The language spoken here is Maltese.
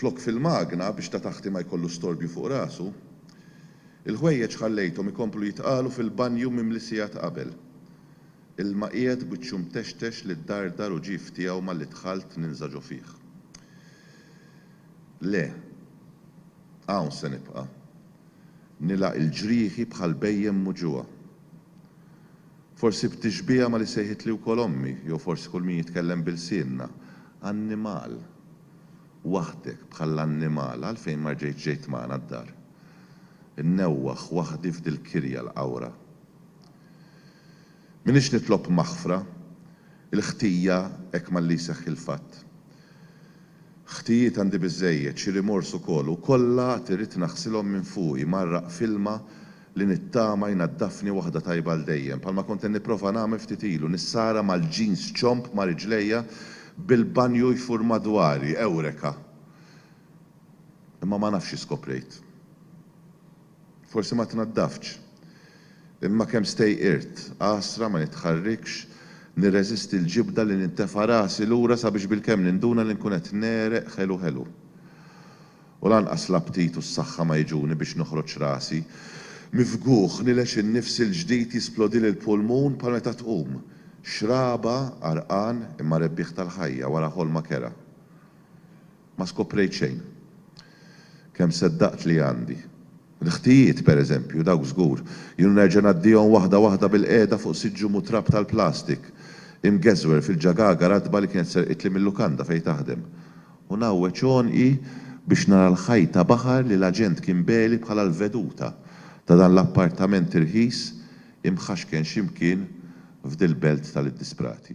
Flok fil-magna biex ta' taħti ma jkollu storbju fuq rasu, il-ħwejjeġ ħallejthom ikomplu jitqalu fil-banju mimli sigħat qabel. Ilma qiegħed wiċċu mtextex li ddardar u ġief tiegħu malli dħalt ninża' ġo fih. Le. Hawn se nibqa'. Nilgħaq il-ġrieħi bħal bhejjem muġugħa. Forsi b'tixbiha ma' li sejħitli wkoll ommi, jew forsi kull min jitkellem b'ilsienna, annimal! Waħdek, bħall-annimal, għalfejn ma rġejtx ġejt magħna d-dar? Innewwaħ waħdi f'dil-kirja l-qawra. M'iniex nitlob maħfra. Il-ħtija hekk malli jseħħ il-fatt. Ħtijiet għandi biżżejjed, xi rimors ukoll, u kollha għad irrid naħsilhom minn fuqi, mgħarraq f'ilma li nittama jnaddafni waħda tajba għal dejjem, bħalma kont qed nipprova nagħmel ftit ilu, nissara mal-jeans ċomb ma' riġlejja bil-banju jfur madwari, Ewreka! Imma ma nafx x'skoprejt. Forsi ma tnaddaftx. Imma kemm stejqirt, għasra, ma nitħarrikx, nirreżisti l-ġibda li nintefa' rasi lura sabiex bilkemm ninduna li nkun qed negħreq ħelu ħelu. U lanqas l-aptit u s-saħħa ma jiġuni biex noħroġ rasi. Mifgugħ, nilex in-nifs il-ġdid jisplodili l-pulmun bħal meta tqum, xraba, għarqan, imma rebbieħ tal-ħajja wara ħolma kerha. Ma skoprejt xejn. Kemm seddaqt li għandi. L-ħtijiet, pereżempju, dawk żgur. Jien nerġa' ngħaddihom waħda waħda bilqiegħda fuq siġġu mutrab tal-plastik, imgeżwer fil-ġagaga ratba li kienet serqitli mil-lukanda fejn taħdem. U ngħawweġ għonqi biex nara l-ħajta baħar li l-aġent kien beli bħala l-veduta ta' dan l-appartament irħis imħaxken xi mkien f'dil-belt tal-iddisprati.